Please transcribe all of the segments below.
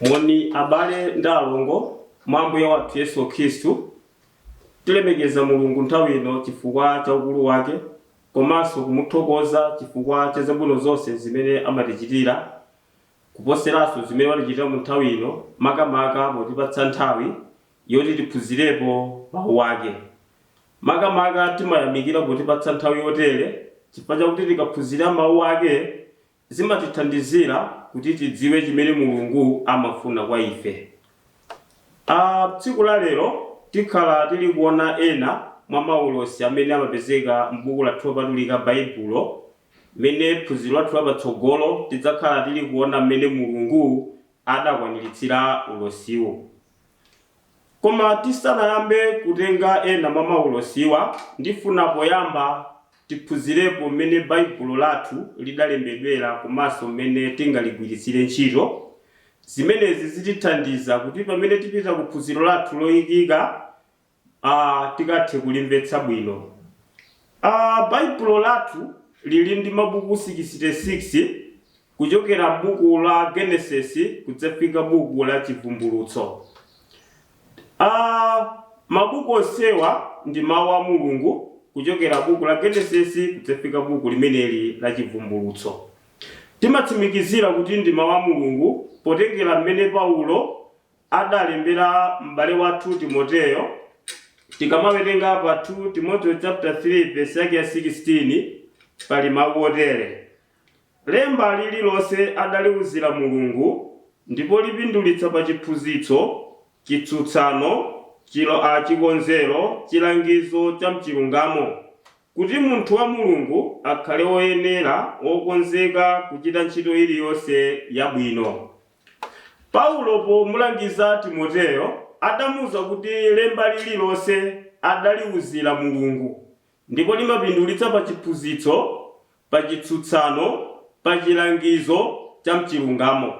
Moni abale ndi alongo mwa Ambuye wathu Yesu Khristu. Tilemekeza Mulungu nthawi ino chifukwa cha ukulu wake komanso kumuthokoza chifukwa cha zabwino zonse zimene amatichitira, kuposeranso zimene watichitira mu nthawi ino, makamaka potipatsa nthawi yoti tiphunzirepo Mawu ake. Makamaka timayamikira potipatsa nthawi yotere chifukwa chakuti tikaphunzira Mawu ake, Zimatithandizira kuti tidziwe chimene Mulungu amafuna kwa ife. A tsiku la lero tikhala tili kuona ena mwa maulosi amene amapezeka m'Buku lathu Lopatulika Baibulo. Mene phunziro lathu la patsogolo tidzakhala tili kuona m'mene Mulungu adakwaniritsira ulosiwo. Koma tisanayambe kutenga ena mwa maulosiwa, ndifuna poyamba tiphunzirepo mmene Baibulo lathu lidalembedwera komanso mmene tingaligwiritsire ntchito. Zimenezi zitithandiza kuti pamene tipita ku phunziro lathu loikika, a tikathe kulimvetsa bwino. a Baibulo lathu lili ndi mabuku 66, kuchokera buku la Genesis kudzafika buku la Chivumbulutso. a Mabuku onsewa ndi Mawu a Mulungu, kuchokera buku la Genesis kudzafika buku limeneli la Chivumbulutso. Timatsimikizira kuti ndi Mawu a Mulungu potengera mmene Paulo adalembera m'bale wathu Timoteyo. Tikamawerenga pa 2 Timoteo chapter 3 verse yake ya 16 pali mawu otere, Lemba lililonse adaliuzira Mulungu, ndipo lipindulitsa pa chiphunzitso, chitsutsano, a, chikonzero, chilangizo cha m'chilungamo, kuti munthu wa Mulungu akhale woyenera, wokonzeka kuchita ntchito iliyonse yabwino. Paulo pomulangiza Timoteyo adamuuza kuti lemba lililonse adaliuzira Mulungu ndipo limapindulitsa pa chiphunzitso, pa chitsutsano, pa chilangizo cha m'chilungamo,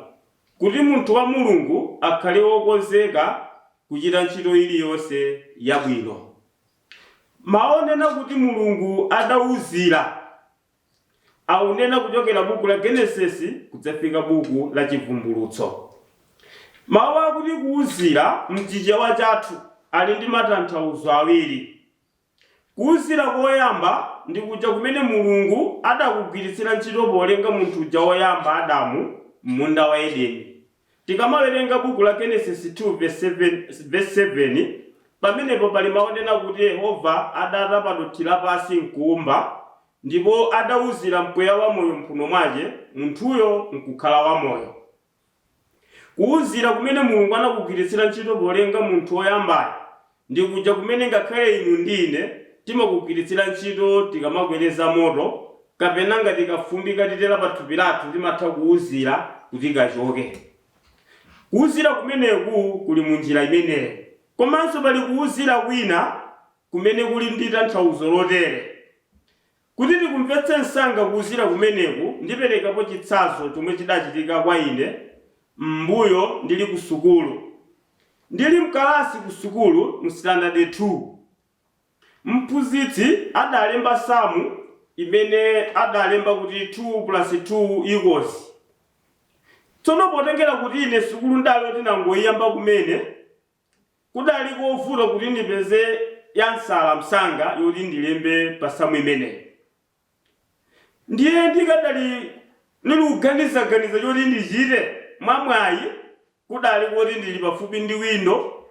kuti munthu wa Mulungu akhale wokonzeka kuchita ntchito iliyonse yabwino. Mau onena kuti Mulungu adauzira. aunena kuchokera buku la Genesis kudzafika buku la Chivumbulutso. Mawu akuti kuuzira m'Chichewa chathu ali ndi matanthauzo awiri. Kuuzira koyamba ndi kuja kumene Mulungu adakugwiritsira ntchito polenga munthu uja woyamba, Adamu, m'munda wa Edeni. Tikamawerenga buku la Genesis 2 vesi 7, pamenepo pali mau onena kuti Yehova adatapa dothi lapansi nkuumba, ndipo adauzira mpweya wa moyo m'mphuno mwache, munthuyo nkukhala wamoyo. Kuuzira kumene Mulungu anakugwiritsira ntchito polenga munthu woyambayo Ndi kuja kumene ngakhale inu ndi ine timakugwiritsira ntchito tikamakoleza moto kapena ngati kafumbi katitera pathupi lathu timatha kuuzira kuti kachoke. Kuuzira kumeneku kuli mu njira imeneyo. Komanso pali kuuzira kwina kumene kuli ndi tanthauzo lotere. Kuti tikumvetse msanga kuuzira kumeneku, ndiperekapo chitsanzo chomwe chidachitika kwa ine m'mbuyo ndili ku sukulu. Ndili mkalasi ku sukulu mu sitandade 2, mphunzitsi adalemba samu imene adalemba kuti 2 plus 2 equals. Tsono potengera kuti ine sukulu n'dali oti ndangoiyamba kumene, Kudali kovuta kuti ndipeze yansala msanga yoti ndilembe pa samu imeneyi. Ndiye ndikadali ndilikuganizaganiza choti ndichite, mwamwayi kudali koti ndili pafupi ndi windo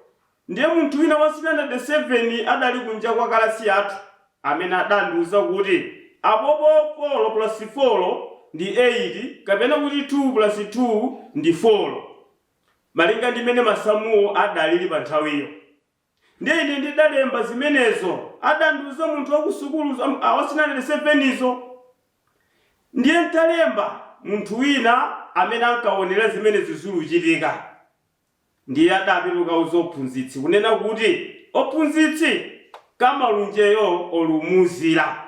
ndiye munthu wina wa sitandade 7 adali kunja kwa kalasi yathu amene adandiuza kuti, Apopo folo pulasi folo ndi eyiti kapena kuti thuu pulasi thuu ndi folo. malinga ndi mmene masamuwo adalili panthawiyo. Ndiye ine ndidalemba zimenezo, adandiuza munthu wa kusukulu, za mu, a, wa sitandade sevenizo. Ndiye n'talemba, munthu wina amene ankaonera zimenezi zuluchitika ndiye adapita kukauza ophunzitsi, kunena kuti, Ophunzitsi, Kamalunjeyo olumuuzira.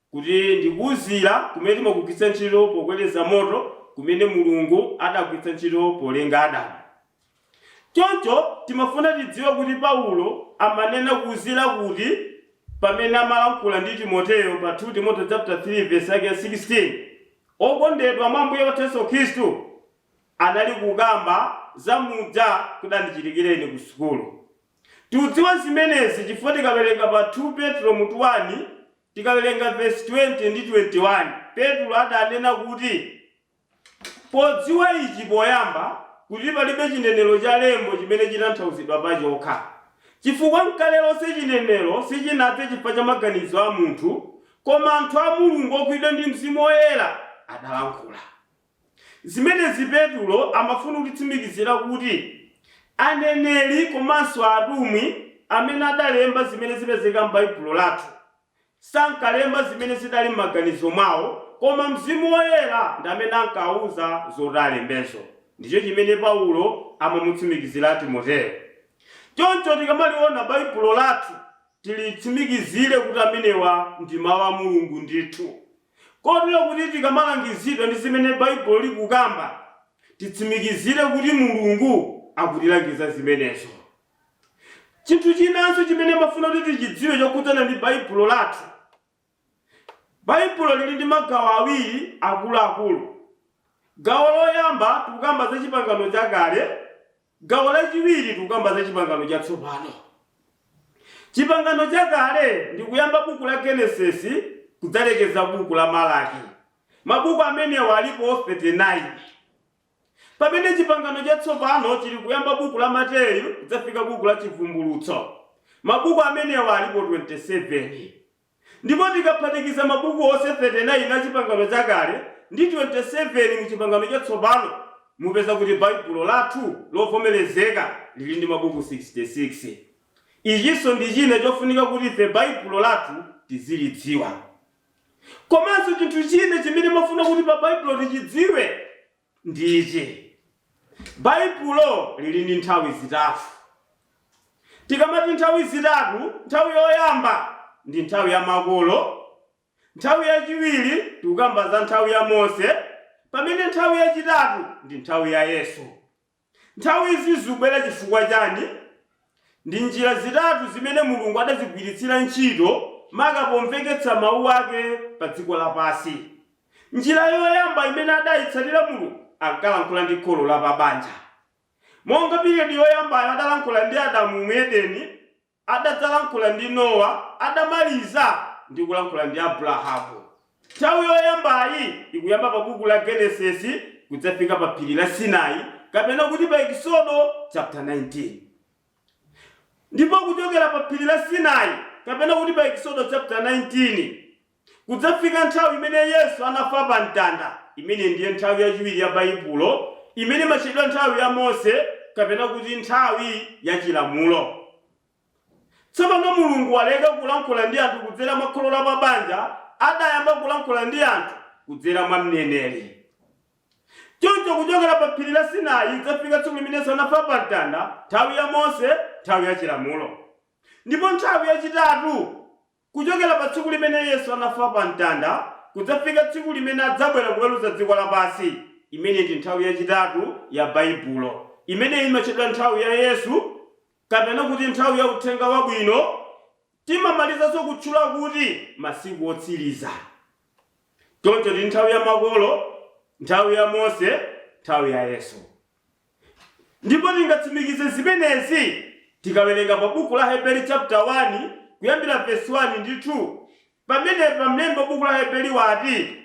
kuti ndi kuuzira kumene timagwiritsa ntchito pokoleza moto kumene Mulungu adagwiritsa ntchito polenga Adamu. Choncho timafuna tidziwe kuti Paulo amanena kuuzira kuti pamene amalankhula ndi Timoteo pa 2 Timoteo chapter 3 verse yake ya 16, Okondedwa mwa Ambuye wathu Yesu Khristu, anali kukamba za muja kudandichitikira ine ku sukulu. Tiudziwa zimenezi chifukwa tikawerenga pa 2 Petro mutu 1 Tikawerenga vesi 20 ndi 21, Petro adanena kuti, Podziwa ichi poyamba, kuti palibe chinenero cha lembo chimene chitanthauzidwa pachokha. Chifukwa nkale lonse chinenero sichinadze chifukwa cha maganizo a munthu, koma anthu a Mulungu ogwidwa ndi Mzimu Woyera adalankhula. Zimenezi Petulo amafuna kutitsimikizira kuti aneneri komanso atumwi amene adalemba zimene zipezeka m'Baibulo lathu, sankalemba zimene zidali m'maganizo mwawo, koma Mzimu Woyera ndi amene ankawauza zoti alembezo. Ndicho chimene Paulo amamutsimikizira Timoteo. Choncho tikamaliona Baibulo lathu tilitsimikizire kuti amenewa ndi Mau a Mulungu ndithu. Kotero kuti tikamalangizidwa ndi zimene Baibulo likukamba, titsimikizire kuti Mulungu akutilangiza zimenezo. Chinthu chinanso chimene mafuna kuti tichidziwe chokhudzana ndi Baibulo lathu, Baibulo lili ndi magawo awiri akuluakulu. Gawo loyamba tikukamba za Chipangano Chakale. Gawo lachiwiri tikukamba za chipangano chatsopano. Chipangano chakale ndi kuyamba buku la Genesis kudzalekeza buku la Malaki. Mabuku amenewa alipo 39. Pamene chipangano chatsopano chili kuyamba buku la Mateyu kudzafika buku la Chivumbulutso. Mabuku amenewa alipo 27. Ndipo tikaphatikiza mabuku onse 39 a Chipangano Chakale ndi 27 mu Chipangano Chatsopano, mupeza kuti Baibulo lathu lovomerezeka lili ndi mabuku 66. Ichinso ndi china chofunika kuti ife Baibulo lathu tizilidziwa. Komanso chinthu china chimene mafuna kuti pa Baibulo tichidziwe. ndi ichi, Baibulo lili ndi nthawi zitatu. Tikamati nthawi zitatu, nthawi yoyamba ndi nthawi ya makolo, nthawi yachiwiri tikukamba za nthawi ya Mose, pamene nthawi yachitatu ndi nthawi ya Yesu. Nthawi izi zubwera chifukwa chani? Ndi njira zitatu zimene Mulungu adazigwiritsira ntchito maka pomveketsa mau ake pa dziko lapansi. Njira yoyamba imene adayitsatira Mulungu ankalankhula ndi kholo la pa banja. Monga period yoyambayo adalankhula ndi Adamu mu Edeni. Adadzalankhula ndi Nowa, adamaliza ndi kulankhula ndi Abrahamu. Nthawi yoyambayi ikuyamba pa Buku la Genesis kudzafika pa Phiri la Sinai kapena kuti pa Ekisodo chapter 19. Ndipo kuchokera pa Phiri la Sinai kapena kuti pa Ekisodo chapter 19, Kudzafika nthawi imene Yesu anafa pa mtanda, imene ndiye nthawi yachiwiri ya Baibulo, imene imatchedwa nthawi ya Mose, kapena kuti nthawi ya Chilamulo. Tsopano Mulungu waleka kulankhula ndi anthu kudzera mwa kholo lapabanja, adayamba kulankhula ndi anthu kudzera mwa mneneri. Choncho kuchokera pa phiri la Sinai kudzafika tsiku limene Yesu anafa pa mtanda, nthawi ya Mose, nthawi ya Chilamulo. Ndipo nthawi yachitatu? Kuchokera pa tsiku limene Yesu anafa pa mtanda kudzafika tsiku limene adzabwera kuweruza dziko lapansi, imeneyi ndi nthawi yachitatu ya Baibulo. Imeneyi imatchedwa nthawi ya Yesu kapena kuti nthawi ya uthenga wabwino. Timamalizanso kutchula kuti masiku otsiriza. Choncho tili nthawi ya makolo, nthawi ya Mose, nthawi ya Yesu. Ndipo tingatsimikize zimenezi tikawerenga pa buku la Aheberi chapter 1 kuyambira verse 1 ndi 2. Pamenepa mlembi wa buku la Aheberi wati,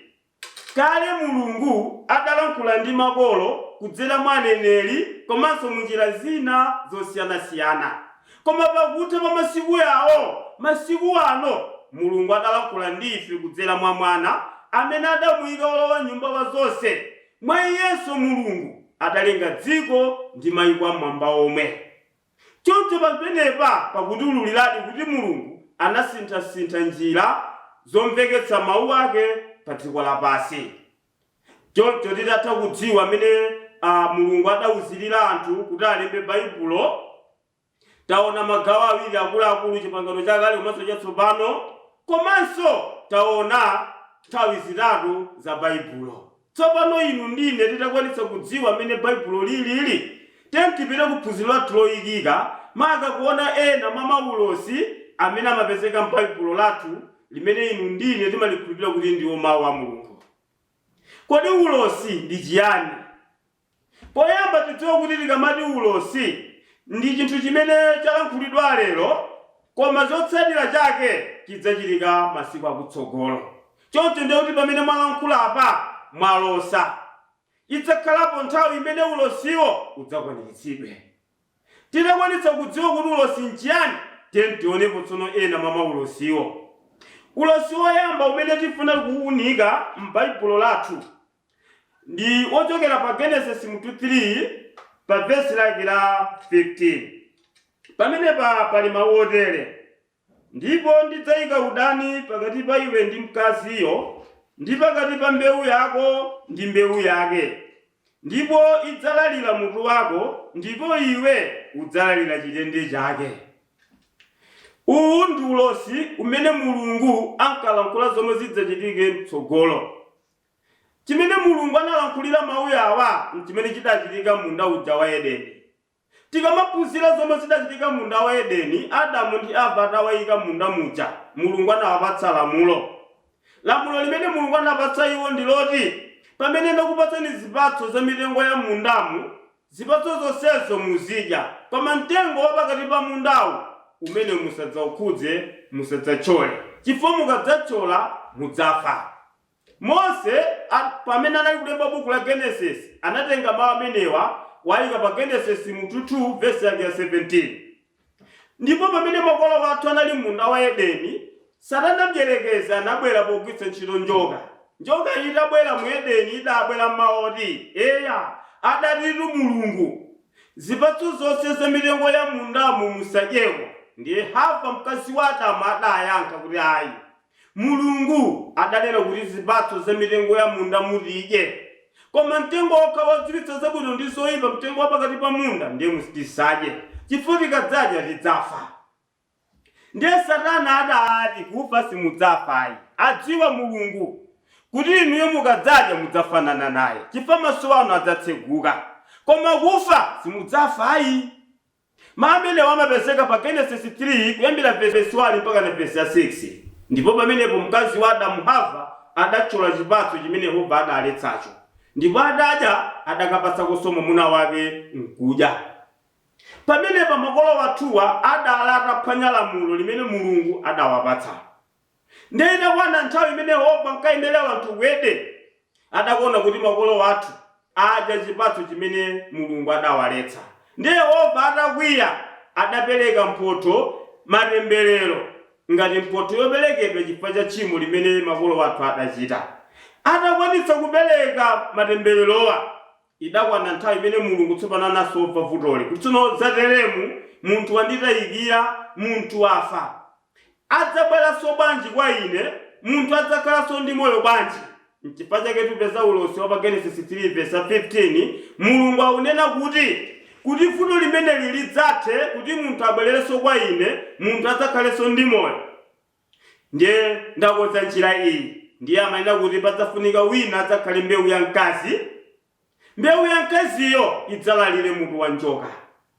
Kale Mulungu adalankhula ndi makolo kudzera mwa aneneri komanso mu njira zina zosiyanasiyana. Koma pakutha pa masiku yawo, masiku ano, Mulungu adalankhula ndi ife kudzera mwa Mwana, amene adamuyika wolowa nyumba wa zonse, Mwa Yesu Mulungu adalenga dziko ndi maiko am'mwamba omwe. Choncho pamenepa pakutiululiradi kuti Mulungu anasinthasintha njira zomveketsa mau ake pa dziko lapansi. Choncho titatha kudziwa m'mene Mulungu adauzirira anthu kuti alembe Baibulo, Taona magawo awiri akuluakulu, Chipangano Chakale komanso Chatsopano komanso taona nthawi zitatu za Baibulo. Tsopano inu ndi ine titakwanitsa kudziwa mmene Baibulo lilili, tiyeni tipite ku phunziro lathu loikika, maka kuona ena mwa maulosi amene amapezeka m'Baibulo lathu limene inu ndi ine timalikhulupirira kuti ndiwo Mau a Mulungu. Kodi ulosi ndi chiyani? Poyamba tidziwe kuti tikamati ulosi ndi chinthu chimene chalankhulidwa lero koma chotsatira chake chidzachitika masiku akutsogolo. Choncho ndiye kuti pamene mwalankhula apa, mwalosa, idzakhalapo nthawi imene ulosiwo udzakwaniritsidwe. Titakwanitsa kudziwa kuti ulosi n'chiyani, tiyeni tionepo tsono ena mwa maulosiwo. Ulosi woyamba umene tifuna kuunika m'Baibulo lathu ndi wochokera pa Genesis mutu 3 pa vesi lake la 15 pamenepa pali mawu otere ndipo ndidzayika udani pakati pa iwe ndi mkaziyo ndi pakati pa mbewu yako ndi mbewu yake ndipo idzalalira mutu wako ndipo iwe udzalalira chitende chake uwu ndi ulosi umene mulungu ankalankhula zomwe zidzachitike mtsogolo Chimene Mulungu analankhulira mau awa nchimene chidachitika m'munda uja wa Edeni. Tikamaphunzira zomwe zidachitika m'munda wa Edeni Adamu ndi Hava atawaika m'munda muja, Mulungu anawapatsa lamulo. Lamulo limene Mulungu anapatsa iwo ndi loti, Pamene ndakupatsani zipatso za mitengo ya m'mundamu, zipatso zonsezo muzidya, koma mtengo wa pakati pa mundawu, umene musadzaukhudze, musadzatchole, chifukwa mukadzatchola mudzafa. Mose, pamene anali kulemba Bukhu la Genesis, anatenga mawu amenewa, kuwayika pa Genesis mutu 2 vesi ya 17. Ndipo pamene makolo athu anali mmunda wa Edeni, Satana Mdierekezi anabwera pogwiritsa ntchito njoka. Njoka itabwera mu Edeni, idabwera ndi mawu oti, Eya, adatitu Mulungu, Zipatso zonse za mitengo ya mmundamu musadyeko. Ndiye Hava, mkazi wa Adamu, adayankha kuti, Ayi. Mulungu adanena kuti zipatso za mitengo ya mundamu tidye, koma mtengo wokha wodziwitsa zabwino ndi zoipa, mtengo wa pakati pa munda, ndiye tisadye, chifukwa tikadzadya tidzafa. Ndiye satana adati kufa simudzafa ayi. Adziwa Mulungu kuti inuyo mukadzadya mudzafanana naye, chifukwa maso anu adzatseguka, koma kufa simudzafa ayi. Mawu amenewa amapezeka pa Genesis 3, kuyambira vesi 1 mpakana vesi 6. Ndipo pamenepo mkazi wa Adamu, Hava, adatchola chipatso chimene Yehova adaletsacho, ndipo adadya, adakapatsakonso mwamuna wake, nkudya. Pamenepa makolo athuwa adaali ataphwanya lamulo limene Mulungu adawapatsa. Ndiye itakwana nthawi imene Yehova ankayendera anthu mu Edeni, adakaona kuti makolo athu adya chipatso chimene Mulungu adawaletsa. Ndiye Yehova atakwiya, adapereka mphotho, matemberero, ngati mphotho yoperekedwa chifukwa cha tchimo limene makolo athu adachita. Atakwanitsa kupereka matembererowa, Idakwana nthawi imene Mulungu tsopano anasova vutoli kuti tsono zateremu, munthu wanditayikira, munthu wafa. Adzabweranso bwanji kwa ine? Munthu adzakhalanso ndi moyo bwanji? Nchifukwa chake tupeza ulosi wa pa Genesis 3 vesi 15, Mulungu akunena kuti, kuti vuto limeneli lidzathe kuti munthu abwererenso kwa ine, munthu adzakhalenso ndi moyo. Ndiye ndakonza njira iyi. Ndiye amanena kuti padzafunika wina adzakhale mbewu ya mkazi. Mbewu ya mkaziyo idzalalire mutu wa njoka.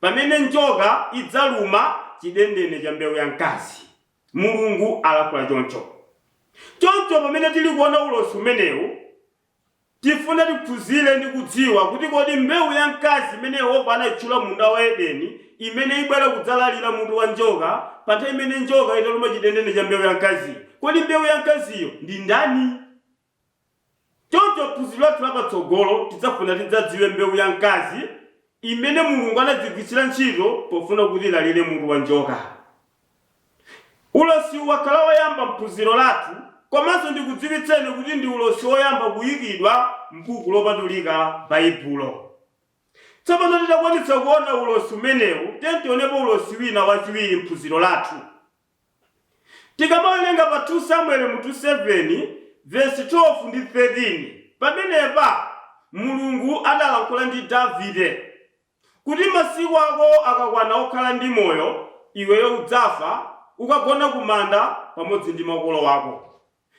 Pamene njoka idzaluma chidendene cha mbewu ya mkazi. Mulungu alankhula choncho. Choncho pamene tili kuona ulosi umenewu, Tifuna tiphunzile ndi kudziwa kuti kodi mbeu ya mkazi imene Yehova anaichula m'munda wa Edeni, imene ibwela kudzalalila mutu wa njoka, pa nthawi imene njoka italuma cidendene ca mbeu ya mkaziyo. Kodi mbeu ya mkaziyo ndi ndani? Conco m'phunzilo lathu la patsogolo, tidzafuna tidzadziwe mbeu ya mkazi imene Mulungu anadzagwitsila nchito pofuna kuti ilalile mutu wa njoka. Ulosi wakhala woyamba m'phunziro lathu komanso ndikudziwitseni kuti ndi ulosi woyamba kuyikidwa m'buku lopatulika, Baibulo. Tsopano titakwanitsa kuona ulosi umenewu, tiyeni tionepo ulosi wina wachiwiri m'phunziro lathu. Tikamawerenga pa 2 Samueli mutu 7 vesi 12 ndi 13, pamenepa Mulungu adalankhula ndi Davide. Kuti masiku ako akakwana okhala ndi moyo, iweyo udzafa, ukagona kumanda pamodzi ndi makolo ako.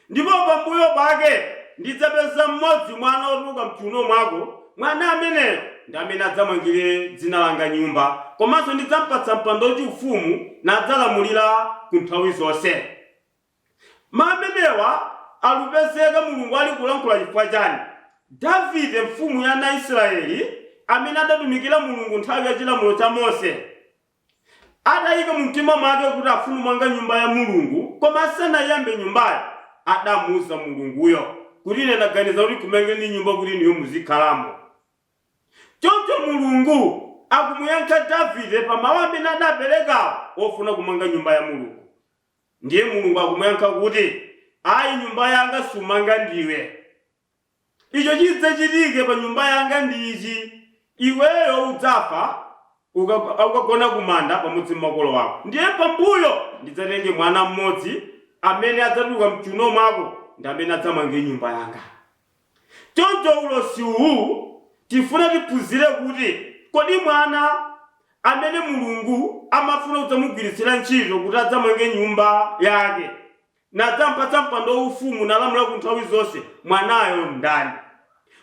Ndipo pambuyo pake ndidzapeza mmodzi mwa ana otuluka m'chiuno mwako, mwana ameneyo ndi amene adzamangire dzina langa nyumba, komanso ndidzam'patsa mpando wachiufumu, nadzalamulira ku nthawi zonse. Mawu amenewa alupezeka Mulungu ali kulankhula chifukwa chani? Davide mfumu ya ana Isilayeli amene adatumikira Mulungu nthawi ya chilamulo cha Mose adayika mumtima mwake kuti afuna kumanga nyumba ya Mulungu koma asanayiyambe nyumbayo adamuuza Mulunguyo kuti ine ndaganiza kuti ndikumangeni nyumba kuti inuyo muzikhalamo choncho Mulungu akumuyankha Davide pa mawu amene adapelekawo ofuna kumanga nyumba ya Mulungu Ndiye Mulungu akumuyankha kuti, Ayi, nyumba yanga sumanga ndiwe. Icho chidzachitike pa nyumba yanga ndi ichi, Iweyo udzafa, ukagona ku manda pamodzi ndi makolo ako. Ndiye pambuyo ndidzatenge mwana mmodzi amene adzatuluka mchiuno mwako ndi amene adzamange nyumba yanga. Choncho ulosi uwu tifuna tiphunzire kuti kodi mwana amene Mulungu amafuna kudzamugwiritsira ntchito kuti adzamange nyumba Yake, nadzampatsa mpando waufumu nalamula ku nthawi zonse, mwanayo ndani?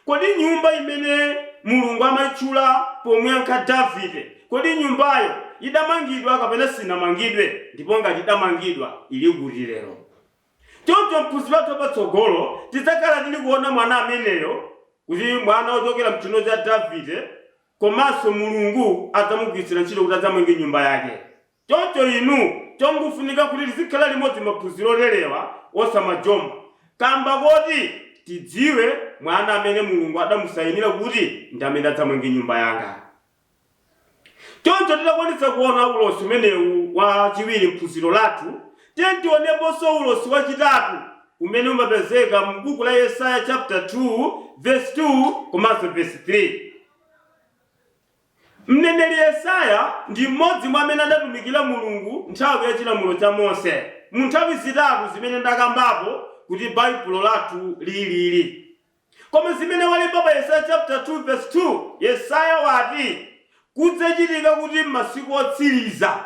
Kodi nyumba imene Mulungu amaitchula pomuyankha Davide, kodi nyumbayo idamangidwa kapena sinamangidwe ndipo ngati idamangidwa ili kuti lero? Choncho m'phunziro lathu lapatsogolo, tidzakhala tili kuona mwana ameneyo kuti mwana wochokera m'chiuno cha Davide komanso Mulungu adzamugwiritsira ntchito kuti adzamange nyumba Yake. Choncho inu chongofunika kuti tizikhala limodzi maphunziro oterewa osamajomba kamba koti tidziwe mwana amene Mulungu adamusayinira kuti ndi amene adzamange nyumba yanga. Choncho titakwanitsa kuona ulosi umenewu wa chiwiri m'phunziro lathu, tiyeni tioneponso ulosi wa chitatu umene umapezeka mu buku la Yesaya chapter 2 verse 2 komanso verse 3. Mneneri Yesaya ndi m'modzi mwa amene adatumikira Mulungu nthawi ya chilamulo cha Mose mu nthawi zitatu zimene ndakambapo kuti Baibulo lathu lilili. Koma zimene walemba pa Yesaya chapter 2 verse 2, Yesaya wati, Kudzachitika kuti m'masiku otsiriza,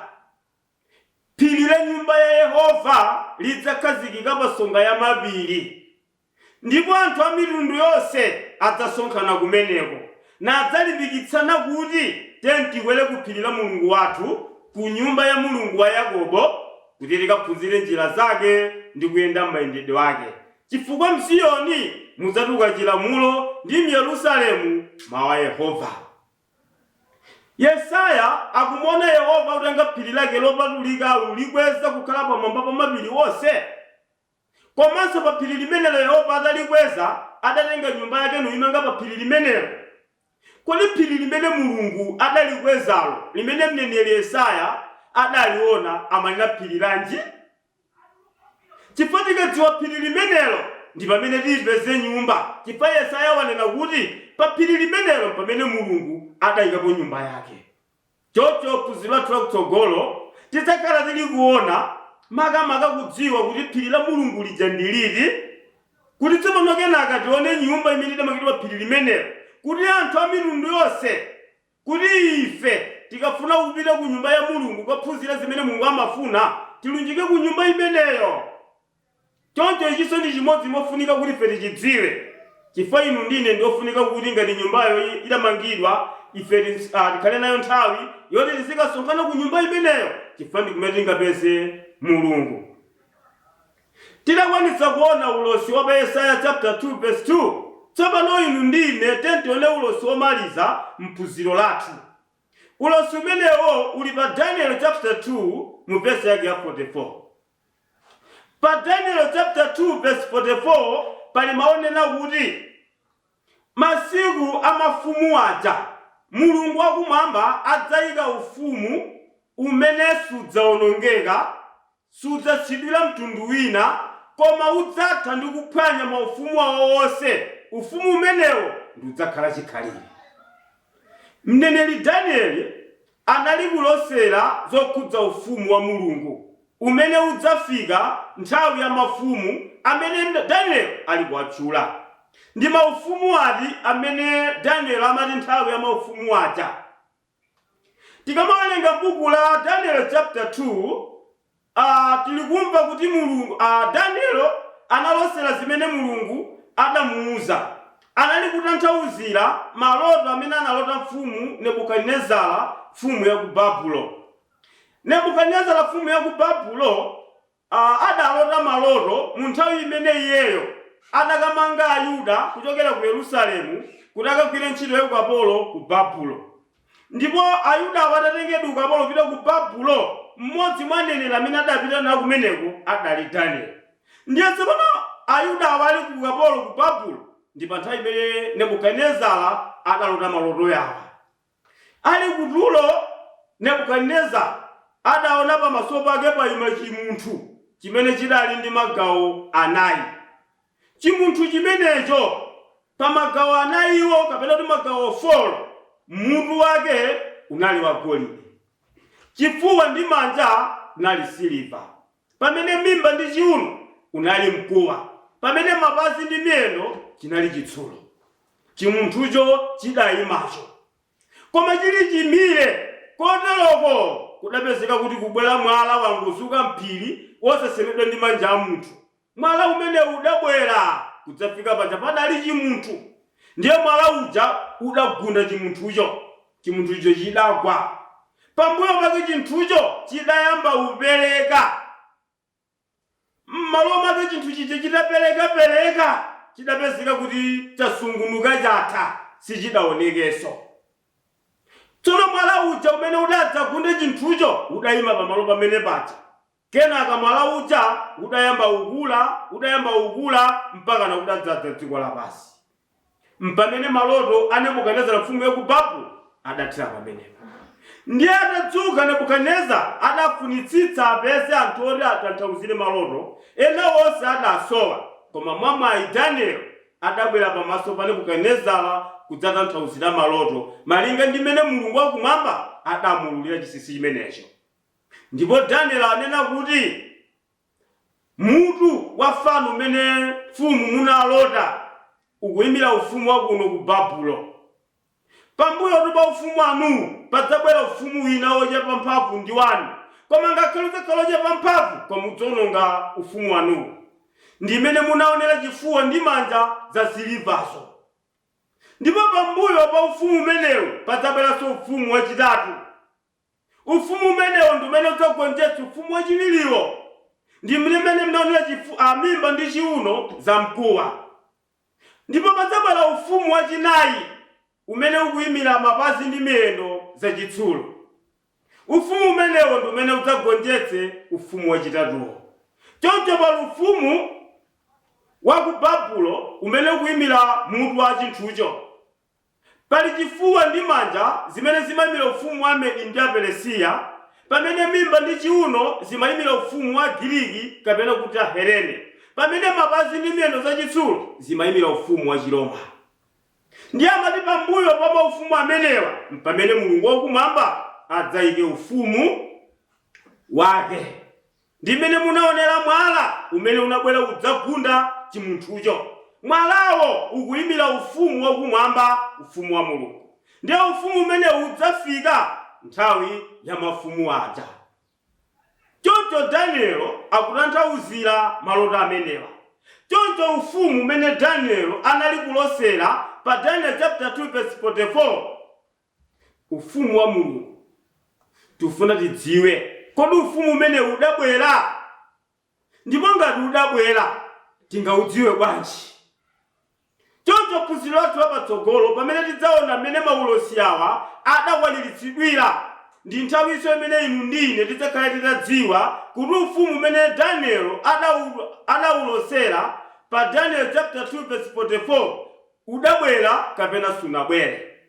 phiri la nyumba ya Yehova lidzakhazikika pansonga ya mapiri, ndipo anthu a mitundu yonse adzasonkhana kumeneko, nadzalimbikitsana kuti, Tiyeni tikwere kuphiri la Mulungu wathu, kunyumba ya Mulungu wa Yakobo, kuti tikaphunzire njira zake ndi kuyenda m'mayendedwe ake. Chifukwa m'Ziyoni mudzatuluka chilamulo, ndi m'Yerusalemu mawu a Yehova. Yesaya akumuona Yehova akutenga phiri lake lopatulika aulikweza kukhala pamwamba pa mapiri onse. Komanso pa phiri limenelo Yehova atalikweza, adatenga nyumba yake nuimanga pa phiri limenelo. Kodi phiri limene Mulungu adalikwezalo, limene mneneri Yesaya adaliona, amanena phiri lanji? Chifukwa tikadziwa phiri limenelo, ndi pamene tipeze nyumba, chifukwa Yesaya wanena kuti pa phiri limenelo mpamene Mulungu adaikapo nyumba yake. Choncho phunziro lathu lakutsogolo tidzakhala tili kuona makamaka kudziwa kuti phiri la Mulungu lija ndi liti, kuti tsopano kenaka tione nyumba imene idamangidwa pa phiri limenelo, kuti anthu a mitundu yonse. Kuti ife, tikafuna kupita ku nyumba ya Mulungu kukaphunzira zimene Mulungu amafuna, tilunjike ku nyumba imeneyo. Choncho ichinso ndi chimodzi mofunika kuti ife tichidziwe, chifukwa inu ndi ine ndi ofunika kuti ngati nyumbayo idamangidwa, ife tikhale nayo nthawi yoti tizikasonkhana ku nyumba imeneyo chifukwa ndi kumene tingapeze Mulungu. Titakwanitsa kuona ulosi wa pa Yesaya chapter 2 verse 2, tsopano inu ndi ine tiyeni tione ulosi womaliza m'phunziro lathu. Ulosi umenewo uli pa Danieli chapter 2 mu verse yake ya 44. Pa Danieli chapter 2 verse 44 pali mawu onena kuti, Masiku a mafumu aja, Mulungu wakumwamba adzaika ufumu umene sudzawonongeka, Sudzasiyidwira mtundu wina, koma udzatha ndi kuphwanya maufumu awo onse, ufumu umenewo ndi udzakhala chikhalire. Mneneri Danieli anali kulosera zokhudza Ufumu wa Mulungu umene udzafika nthawi ya mafumu amene Danieli ali kuwatchula. Ndi maufumu ati amene Danieli amati nthawi ya maufumu aja? Tikamawerenga buku la Daniel chapter 2, a, tilikumva kuti Mulungu, a, Daniel analosera zimene Mulungu adamuuza. Anali kutanthauzira maloto amene analota mfumu Nebukadinezara, mfumu ya ku Babulo. Nebukadinezara, mfumu ya ku Babulo, a, adalota maloto mu nthawi imene iyeyo adakamanga Ayuda kuchokera ku Yerusalemu kuti akagwire ntchito ya ukapolo ku Babulo. Ndipo Ayudawo atatengedwa ukapolo kupita ku Babulo, mmodzi mwa aneneri amene adapita nawo kumeneko adali Danieli. Ndiye tsopano Ayudawo ali ku ukapolo ku Babulo, ndi pa nthawi imene Nebukadinezara adalota maloto yawa. Ali ku tulo, Nebukadinezara adaona pamaso pake paima chimunthu chimene chidali ndi magawo anayi. Chimunthu chimenecho, pa magawo anayiwo kapena kuti magawo 4, mutu wake unali wagolide. Chifuwa ndi manja unali siliva. Pamene mimba ndi chiuno unali mkuwa, pamene mapazi ndi miyendo chinali chitsulo, chimunthucho chidaimacho, koma chili chimire koteroko kudapezeka kuti kubwera mwala wangozuka m'phiri wosasemedwa ndi manja a munthu. Mwala umene udabwera kudzafika paja padali chimunthu, ndiye mwala uja udagunda chimunthucho. Chimunthucho chidagwa. Pambuyo pake chinthucho chidayamba upereka. Mmalo mwake chinthu chija chitaperekapereka chidapezeka kuti chasungunuka chatha, sichidaonekenso. Tsono mwala uja umene udadzagunda chinthucho udaima pamalo pamene paja. Kenaka mwala uja udayamba kukula, udayamba ukula mpakana udadzadza dziko lapansi. Mpamene maloto a Nebukadinezara mfumu ya ku Babulo adathera pamenepa. Ndiye atadzuka Nebukadinezara, adafunitsitsa apeze anthu oti atanthauzire maloto, ena onse adasowa. Koma mwamwayi Danieli adabwera pamaso pa Nebukadinezara kudzatanthauzira maloto, malinga ndi m'mene Mulungu Wakumwamba adamuululira chinsinsi chimenecho. Ndipo Daniel anena kuti mutu wa fano umene mfumu munalota ukuimira ufumu wa kuno ku Babulo. Pambuyotu pa ufumu wanuwu padzabwera ufumu wina wochepa mphamvu ndi wanu, koma ngakhale udzakhala wochepa mphamvu koma udzaononga ufumu wanuwu. Ndi imene munaonera chifuwa ndi manja zasilivazo. Ndipo pambuyo pa ufumu umenewu padzabweranso ufumu wachitatu. Ufumu umenewo ndi umene udzagonjetse ufumu wachiwiriwo. Ndi mmene mnaonera chifu, a, mimba ndi chiuno zamkuwa. Ndipo padzabwera ufumu wachinai umene ukuimira mapazi ndi miyendo zachitsulo. Ufumu umenewo ndi umene udzagonjetse ufumu wachitatuwo. Choncho pali ufumu wa ku Babulo umene ukuimira mutu wa chinthucho. Pali chifuwa ndi manja zimene zimaimira ufumu wa Amedi ndi Aperesiya, pamene mimba ndi chiuno zimaimira ufumu wa Agiriki, kapena kuti Ahelene, pamene mapazi ndi miyendo zachitsulo zimaimira Ufumu Wachiroma. Ndiye amati pambuyo pa maufumu amenewa m'pamene Mulungu wakumwamba adzaike ufumu wake. Ndi mmene munaonera mwala umene unabwera kudzagunda chimunthucho. Mwalawo ukuimira Ufumu wakumwamba, Ufumu wa Mulungu. Ndiye Ufumu umene udzafika nthawi ya mafumu aja. Choncho Danieli akutanthauzira maloto amenewa. Choncho Ufumu umene Danieli anali kulosera pa Daniel chaputala 2 vesi 44, Ufumu wa Mulungu. Tifuna tidziwe, kodi Ufumu umenewu udabwera? Ndipo ngati udabwera, tingaudziwe bwanji? Choncho phunziro lathu la patsogolo pamene tidzaona mmene maulosi awa adakwaniritsidwira, ndi nthawinso imene inu ndi ine tidzakhale titadziwa kuti Ufumu umene Danieli adaulosera pa Daniel chaputala 2 vesi 44 udabwera kapena sunabwere.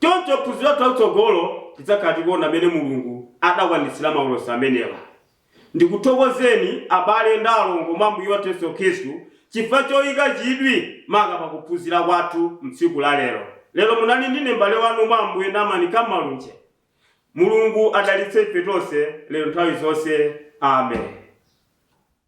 Choncho m'phunziro lathu lamtsogolo tidzakhala tikuona mmene Mulungu adakwaniritsira maulosi amenewa. Ndikuthokozeni abale ndi alongo mwa Ambuye wathu Yesu Khristu chifukwa choika chidwi maka pa kuphunzira kwathu m'tsiku la lero. Lero munali ndine mbale wanu mwa Ambuye Naamani K. Malunje. Mulungu adalitse ife tonse lero nthawi zonse. Amen.